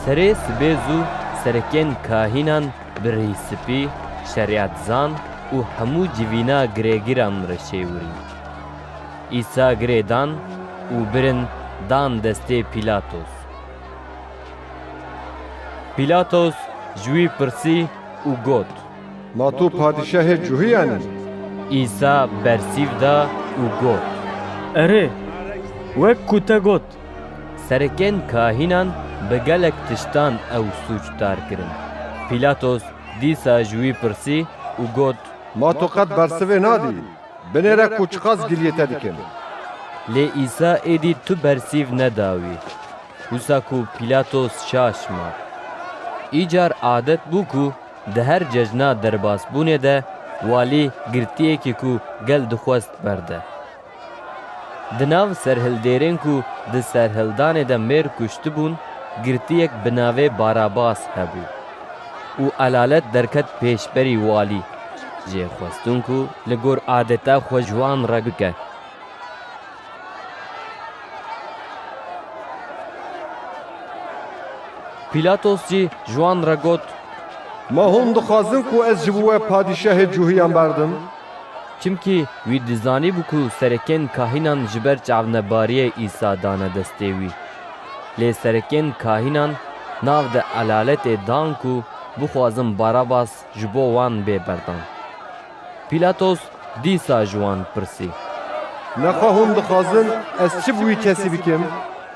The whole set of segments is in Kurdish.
Serê sibê zû serekên kahînan Birî Spî, Şeriatzan û hemû civîna girêgiran re şêwirîn. Îsa girê dan û birin dan destê Pîlatos. Pîlatos ji wî pirsî û got. Ma tu padîşahê cuhiyan î? Îsa bersîv da û got. Erê, wek ku te got. Serekên kahînan bi gelek tiştan ew sûcdar kirin. Pîlatos dîsa ji wî pirsî û got. Ma tu qet bersivê nadî? Binêre ku çiqas giliyê te dikim. Lê Îsa êdî tu bersîv neda wî. Wisa ku Pîlatos şaş ma. Îcar adet bû ku di her cejna derbasbûnê de walî girtiyekî ku gel dixwest berde. Di nav serhildêrên ku di serhildanê de mêr kuştibûn girtiyek bi navê Barabas hebû û elalet derket pêşberî walî jê xwestin ku li gor adeta xwe ji wan re bike. Pîlatos jî ji wan re got. Ma hûn dixwazin ku ez ji bo we padîşahê cûhiyan berdim? Çimkî wî dizanîbû ku serekên kahînan ji ber çavnebariyê Îsa dane destê wî. Lê serekên kahînan nav di elaletê dan ku bixwazin Barabas ji bo wan bê berdan. Pîlatos dîsa ji wan pirsî. Lexwe hûn dixwazin ez çi bi wî kesî bikim,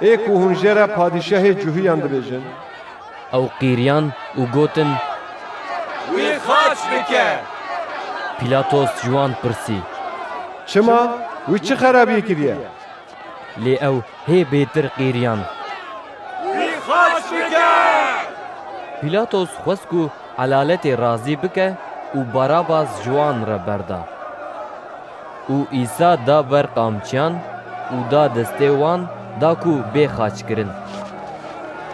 ê ku hûn jê re padîşahê cuhîyan dibêjin? Ew qîriyan û gotin. Wî xaç bike! Pîlatos ji wan pirsî. Çima? Wî çi xerabiyê kiriye? Lê ew hê bêtir qîriyan. Wî xaç bike! Pîlatos xwest ku Elaletê razî bike û Barabas ji wan re berda. Û Îsa da ber qamçiyan û da destê wan da ku bê xaç kirin.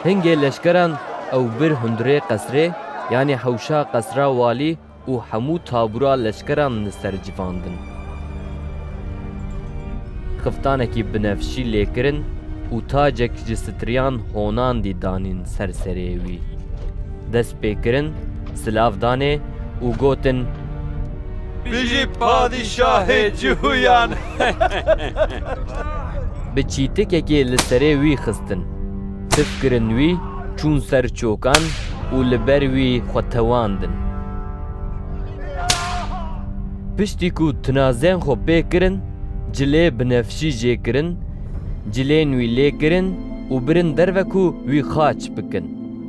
Hingê leşkeran ew bir hundirê qesrê, yanî hewşa qesra walî û hemû tabûra leşkeran li ser civandin. Xiftanekî binefşî lê kirin û tacek ji sitriyan honandî danîn ser serê wî. pê kirin, silav danê û gotin. Bijî padîşahê cihûyan! Bi çîtikekê li serê wî xistin. Tif kirin wî, çûn ser çokan û li ber wî xwe tewandin. Piştî ku tinazên xwe pê kirin, cilê binefşî jê kirin, cilên wî lê kirin û birin derve ku wî xaç bikin.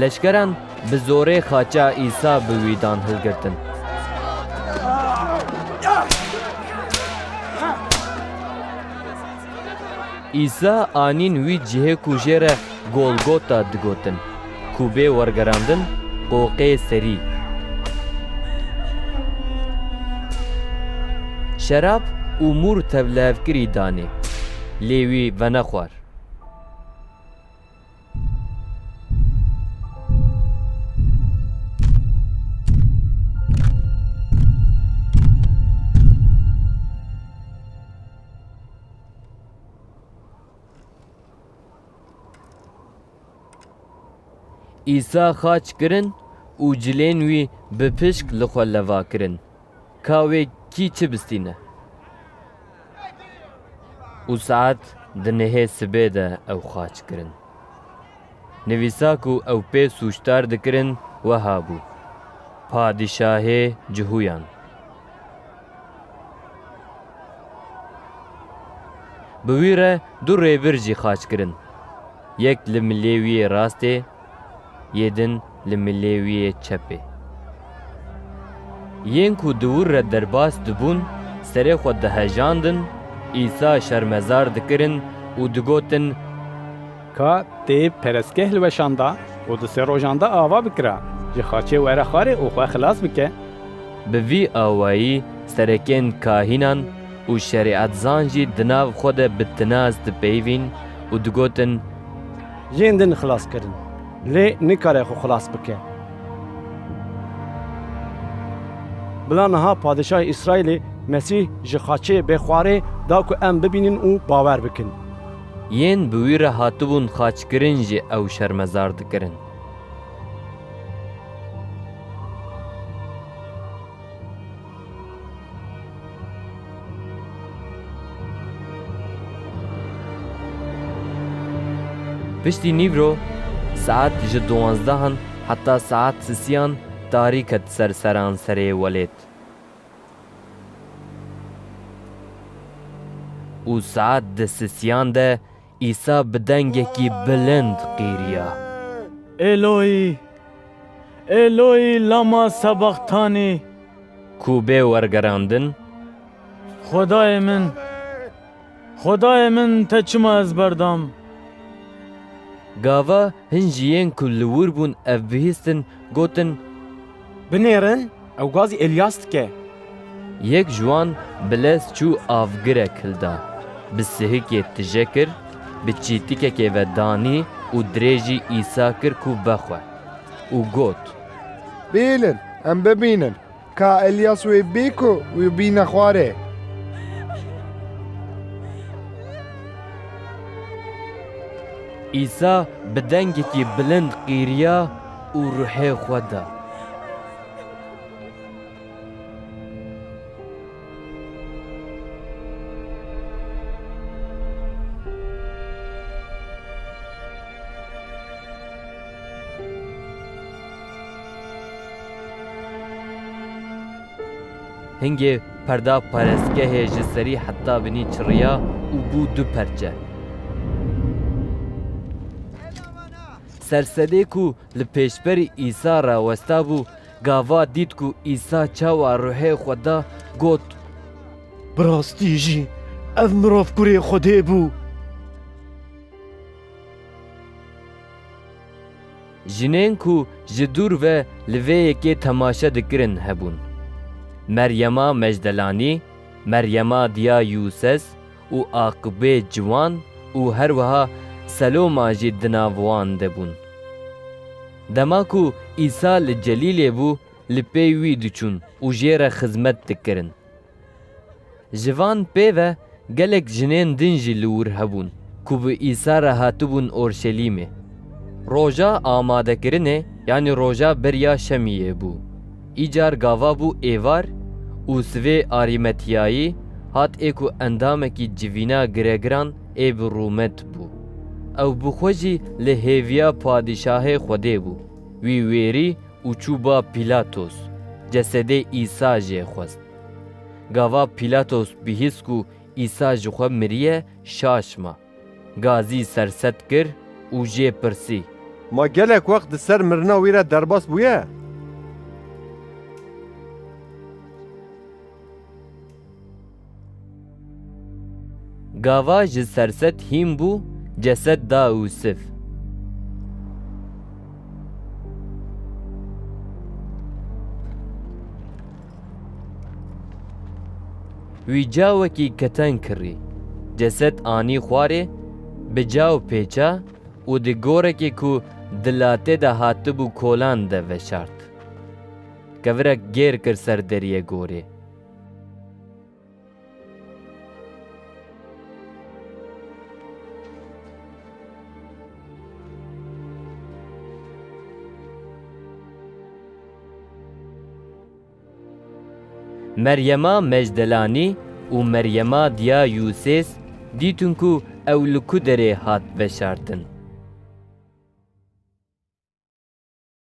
Leşkeran bi zorê xaça Îsa bi wî dan hilgirtin. Îsa anîn wî cihê ku jê re Golgota digotin, ku bê wergerandin Qoqê Serî. Şerab û mûr tevlihevkirî danê, lê wî venexwar. Îsa xaç kirin û cilên wî bi pişk li xwe leva kirin. Ka wê kî çi bistîne û saet di nihê sibê de ew xaç kirin. Nivîsa ku ew pê sûcdar dikirin weha bû, Padîşahê Cihûyan. Bi wî re du rêbir jî xaç kirin, yek li milê wî yê rastê, yê din li milê wî yê çepê. Yên ku di wir re derbas dibûn serê xwe dihejandin, Îsa şermezar dikirin û digotin, Ka tê perestgeh li weşan da û di sê rojan de ava bikira, ji xaçê were xwarê û xwe xilas bike. Bi vî awayî serekên kahînan û şerîetzan jî di nav xwe de bi tinaz dipeyivîn û digotin, Yên din xilas kirin. Lê nikare xwe xilas bike. Bila niha Padişahê Îsraîlê Mesîh ji xaçê bê xwarê da ku em bibînin û bawer bikin. Yên bi wî re hatibûn xaçkirin jî ew şermezar dikirin. Piştî nîvro saet ji duwanzdehan heta saet sisiyan tarî ket ser seranserê welêt û saet di sisiyan de Îsa bi dengekî bilind qîriya. Êloî, Êloî lama sebaxtanî? Ku bê wergerandin. Xwedayê min, Xwedayê min te çima ez berdam? Gava hin jî yên ku li wir bûn ev bihîstin, gotin. Binêrin! Ew gazî Elyas dike. Yek ji wan bi lez çû avgirek hilda, bi sihikê tije kir, bi çîtikekê ve danî û dirêjî Îsa kir ku vexwe. Û got. Bînin, em bibînin ka Elyas wê bî ku wî bîne xwarê. Îsa bi dengekî bilind qîriya û ruhê xwe da. Hingê perda parêzgehê ji serî heta binî çiriya û bû du perçe. Sersedê ku Li pêşberî Îsa re westabû, gava dît ku Îsa çawa ruhê xwe da, got. Bi rastî jî ev mirov Kurê Xwedê bû. Jinên ku ji dûr ve li vê yekê temaşe dikirin hebûn, Meryema Mecdelanî, Meryema diya Yûses, û aqibê ciwan û her wiha Seloma jî di nav wan de bûn. Dema ku Îsa li Celîlê bû, li pey wî diçûn û jê re xizmet dikirin. Ji van pê ve gelek jinên din jî li wir hebûn ku bi Îsa re hatibûn Orşelîmê. Roja Amadekirinê yanî roja beriya şemiyê bû. Îcar gava bû êvar û sivê Arîmetiyayî hat ê ku endamekî civîna giregiran ê bi Rûmet bû. Ew bi xwe jî li hêviya padîşahê Xwedê bû. Wî wêrî û çû ba Pîlatos. Cesedê Îsa jê xwest. Gava Pîlatos bihîst ku Îsa ji xwe miriye, şaş ma. Gazî serset kir û jê pirsî. Ma gelek wext di ser mirina wî re derbas bûye? Gava ji serset hîn bû ceset da Ûsif. Wî cawekî keten kirî, ceset anî xwarê, bi caw pêça û di gorekê ku di latê de hatibû kolan de veşart. Kevirek gêr kir ser deriyê gorê. Meryema Mecdelanî û Meryema Diya Yûsês dîtin ku ew li ku derê hat veşartin.